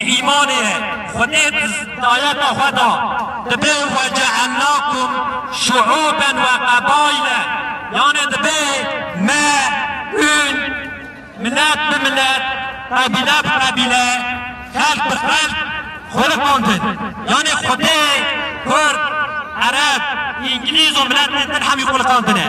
Îmanê Xwedê dayeta xwe da, dibe wecaelnakum şu'uben ve qebaile, yanê dibe me hûn milet bi milet, qebîle bi qebîle, xelk bi xelk xweliqandin. Yanê Xwedê kurd, ereb, îngilîz û miletên din hemî xweliqandine.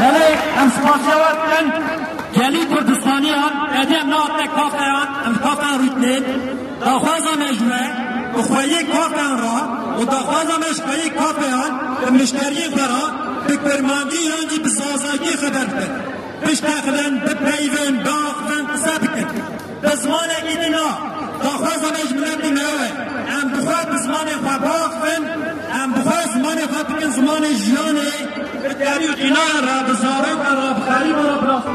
Belê em spasiya we dikin gelî Kurdistaniyan, hediya na te kafeyan em kafeyan rûtnê. Daxwaza me ji we bi xweyê kafeyan ra û daxwaza me ji xweyê kafeyan bi mişteriyên xwe ra bi kurmangî yan jî bi zazakî xeber bikin, biştexilin, bipeyivin, biaxivin, qise bikin. Bi zimanekî din a, daxwaza me ji miletê me ew e, em bi xwe bi zimanê xwe biaxivin, em bi xwe zimanê xwe bikin zimanê jiyanê, bi derî û qînayan re, bi zarokan re, bi xerîban re bila xwe.